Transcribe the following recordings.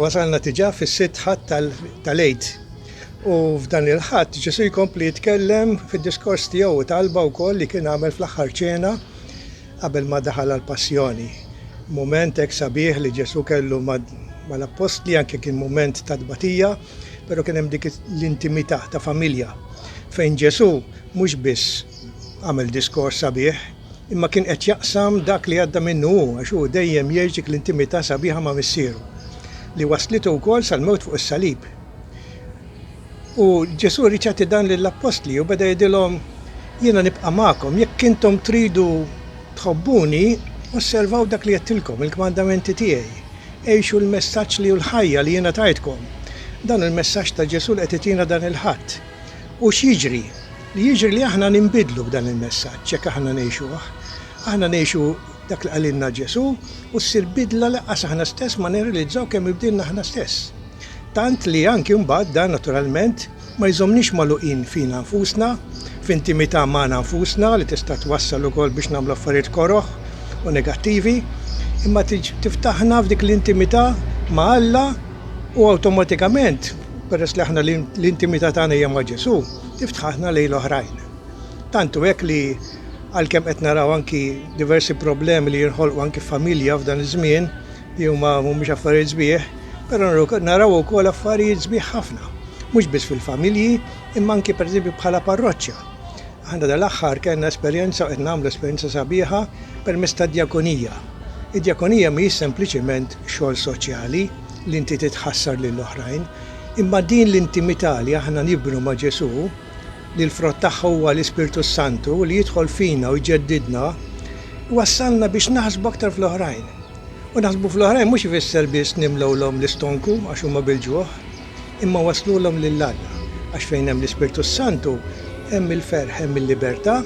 Wasalna diġà fis-sitt Ħadd tal-Għid u f'dan il-Ħadd Ġesù jkompli jitkellem fid-diskors tiegħu u talba wkoll li kien għamel fl-aħħar ċena qabel ma daħal għall-Passjoni. Mument hekk sabiħ li Ġesù kellu mal-Appostli anke kien mument ta' tbatija, però kien hemm dik l-intimità ta' familja fejn Ġesù mhux biss għamel diskors sabiħ, Imma kien qed jaqsam dak li għadda minnu hu għax hu dejjem jgħix dik l-intimità sabiħa ma' Missieru, li wasslitu wkoll sal-mewt fuq is-salib. U Ġesù ried jagħti dan lill-appostli u beda jgħidilhom, Jiena nibqa' magħkom, jekk intom tridu tħobbuni, osservaw dak li għedtilkom, il-kmandamenti tiegħi. Għixu l-messaġġ li hu l-ħajja li jiena tajtkom. Dan hu l-messaġġ ta' Ġesù li qed itina dan il-Ħadd. U x'jiġri? Jiġri li aħna ninbidlu b'dan il-messaġġ jekk aħna ngħixuh. Aħna ngħixu dak li qalilna Ġesù u ssir bidla lanqas aħna stess ma nirrealizzaw kemm inbdilna aħna stess. Tant li anki mbagħad dan naturalment ma jżommniex magħluqin fina nfusna, f'intimità magħna nfusna li tista' twassal ukoll biex nagħmlu affarijiet koroh u negattivi, imma tiftaħna f'dik l-intimità ma' Alla u awtomatikament, Peress li aħna l-intimità tagħna hija ma' Ġesù, tiftħu aħna lejn l-oħrajn. Tant hu hekk li għalkemm qed naraw anki diversi problemi li jinħolqu anki f'familja f'dan iż-żmien li huma mhumiex affarijiet sbieħ, però naraw ukoll affarijiet sbieħ ħafna, mhux biss fil-familji imma anki pereżempju bħala parroċċa. Aħna dal-aħħar kellna esperjenza u qed nagħmlu esperjenza sabiħa permezz tad-djakonija. Id-djakonija mhijiex sempliċement xogħol soċjali li inti titħassar lil oħrajn, imma din l-intimità li aħna nibnu ma' Ġesù, li l-frott tagħha huwa l-Ispirtu s-Santu li jidħol fina u jġeddidna, iwassalna biex naħsbu aktar fl-oħrajn. U naħsbu fl-oħrajn mhux ifisser biss nimlewlhom l-istonku għax huma bil-ġuħ. imma wasslulhom lil Alla, għax fejn hemm l-Ispirtu s-Santu hemm il-ferħ, hemm il-libertà,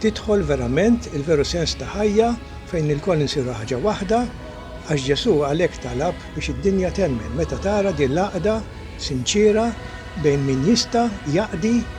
tidħol verament il-veru sens ta' ħajja fejn ilkoll insiru ħaġa waħda, għax Ġesù għalhekk talab biex id-dinja temmen meta tara din l-għaqda sinċiera bejn min jista' jaqdi,